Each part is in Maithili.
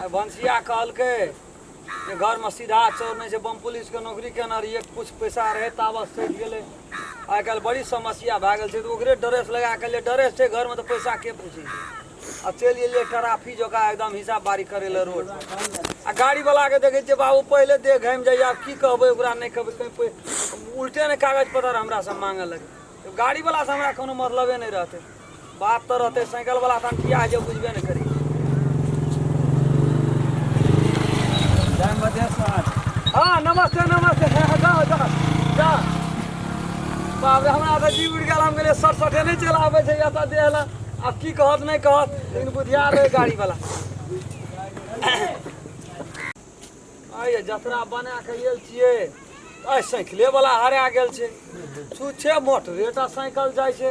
आइ भनसिया कहलकै जे घरमे सीधा चोर नहि छै बम पुलिसके नौकरी केना रहियै किछु पैसा रहै ताबत सटि गेलै आइ काल्हि बड़ी समस्या भए गेल छै तऽ ओकरे ड्रेस लगा कऽ ले ड्रेस छै घरमे तऽ पैसा के पूछै छै आ चलि गेलियै ट्राफी जकाँ एकदम हिसाब बारी करै लए रोड आ गाड़ीवलाके देखै छियै बाबू पहिले देह घामि जाइए आब की कहबै ओकरा नहि कहबै कहीं पै- उल्टे ने कागज पत्तर हमरासँ मांगऽ लगै गाड़ीवलासँ हमरा कोनो मतलबे नहि रहतै बात तऽ रहतै साइकिल वाला तहन किया जे बुझबे ने करी जय मधेश्वर हाँ नमस्ते नमस्ते हाँ, हाँ, जाओ जाओ जाओ बाप रे हमरा तऽ जी उड़ि गेल हम गेलियै सट सटे नहि चलि आबै छै एतऽ देह लए आब की कहत नहि कहत लेकिन बुधियार रहै गाड़ी वाला आइए जतरा बना कऽ गेल छियै आइ साइकिले वाला हरा गेल छै छुच्छे मोटरे टा साइकिल जाइ छै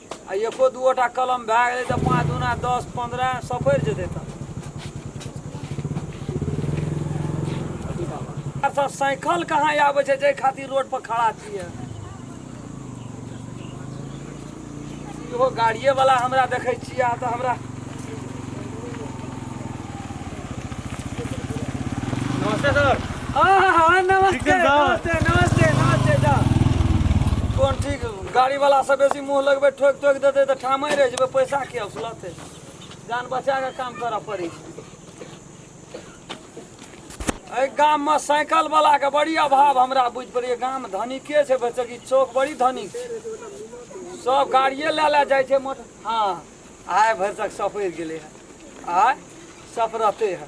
आ एको दूओटा कलम भए गेलै तऽ पाँच दूना दस पन्द्रह सपरि जेतै तऽ सब साइकिल कहाँ आबै छै जाहि खातिर रोड पर खड़ा छियै इहो गाड़िए वाला हमरा देखै छियै अहाँ तऽ हमरा नमस्ते सर हाँ, हाँ, हाँ, नमस्ते नमस्ते नमस्ते नमस्ते जा कौन ठीक गाड़ी वाला से बेसी मुंह लगबे ठोक ठोक देते तो ठामे रह जेबे पैसा के असलते जान बचा के काम करऽ पड़ी एहि गाम में साइकिल वाला के बड़ी अभाव हमरा बुझ पड़िए गाम धनिके छै बेचकी चौक बड़ी धनिक छै सब गाड़िए लए लए जाइ छै मोटर हँ आय भरि तक सफरि गेलै हँ आय सफरते हँ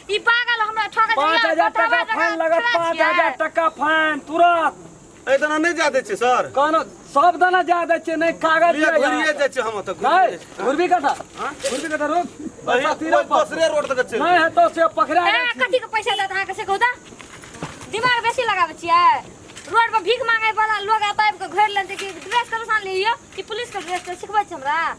ई पागल हमरा ठोका पाँच हजार टका फाइन लगत पाँच हजार टका फाइन तुरंत ए तना नहीं जा दे छे सर कहनो सब दाना जा दे छे नहीं कागज लिया लिया घुरिए यार। जा छे हम तो नहीं घुरबी कथा घुरबी कथा रोक अही बस तीरा पर। दूसरे रोड तक चल नहीं है तो से पकड़ा ए जाए कथी के पैसा देत अहाँ के से कहू त दिमाग बेसी लगाबै छियै रोड पर भीख मांगे वाला लोग आब आबि के घर लेते कि ड्रेस कतऽ सान लियो कि पुलिस के ड्रेस तऽ सिखबै छै हमरा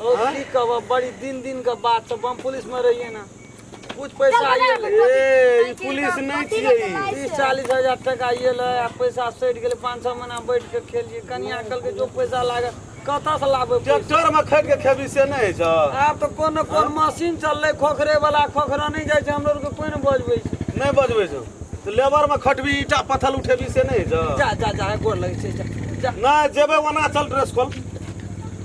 ओ की कहबो बड़ी दिन दिन के बात सब हम पुलिस में रहिए ना कुछ पैसा आइए ए ई पुलिस नहीं छिए ई। तीस चालीस हजार टका आइए ले आ पैसा सटि गेलै पाँच छः महीना बैठ के खेलिए कनिया कहलकै जो पैसा लागे कतऽ से लाबे पैसा? ट्रैक्टर में खट के खेबी से नहीं छ आब तऽ कोन ने कोन मशीन चललै खोखरे वाला खोखरा नहि जाइ छै हम लोग के कोई ने बजबै छै नहीं बजबे छ तो लेबर में खटबी ईटा पत्थल उठेबी से नहीं छ जा जा जा गोर लगै छै जा जा नहीं जेबे वना चल ड्रेस खोल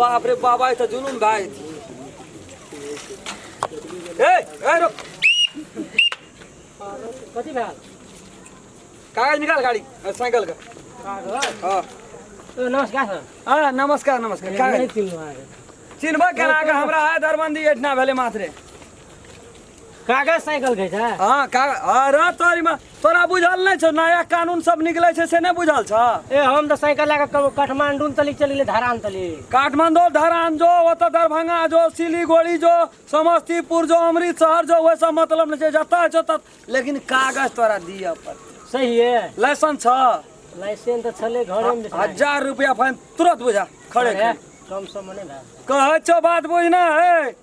बाप रे बाबा ई तऽ जुलूम भए जेतै ए ए रुक कथी भए कागज निकाल गाड़ी अ, साइकिल का हाँ ओ नमस्कार सर हाँ नमस्कार नमस्कार नहीं कागज चिन्हलहुँ अहाँके चिन्हबा केना के हमरा है दरबंदी एठना भेले मात्रे कागज साइकिल कहै छै हाँ का अरे तोरी में तोरा बुझल नहीं छो नया कानून सब निकले छै से नहीं बुझल छ ए हम तऽ साइकिल लए कऽ काठमांडू तली चलि गेलै धरान तली काठमांडू धरान जो वो तो दरभंगा जो सिलीगुड़ी जो समस्तीपुर जो अमृतसर जो वैसा मतलब नहीं छै जतऽ छो तत लेकिन कागज तोरा दिअ पर सही है लाइसेंस छ लाइसेंस तऽ छलै घरे में हजार रुपया फाइन तुरंत बुझा खड़े खड़े कम सम मने भए कहै छो बात बुझना है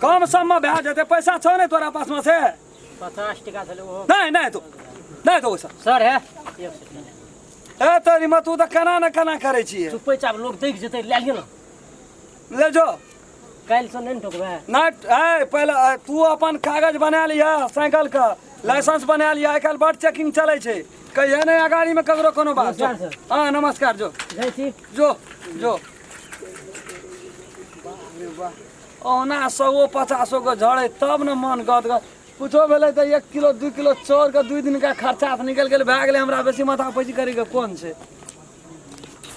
कम सम्म भए जेतै पैसा छौ ने तोरा पासमे से पचास टका छलै ओहो नहि नहि तो नहि तो ओसभ सर हे एक सेकंड ए तोरी मत तू तऽ केना ने केना करै छियै चुपे चाप लोग देख जेतै लए लिअ ने ले जो काल्हि से नहि ने ठोकबै नहि है पहिले अ, तू अपन कागज बना लिह साइकिल के लाइसेंस बना लिह आइ काल्हि बड चेकिंग चलै छै कहिया नहि अगाड़ी में ककरो कोनो बात नमस्कार सर। हाँ नमस्कार जो जाइ छी जो जो ओना सौ पचासो के झड़े तब ने मन गद गद कुछो भेलै तऽ एक किलो दू किलो चाउर के दू दिन का खर्चा निकल गेल भए गेलै हमरा बेसी माथा पैची करै के कोन छै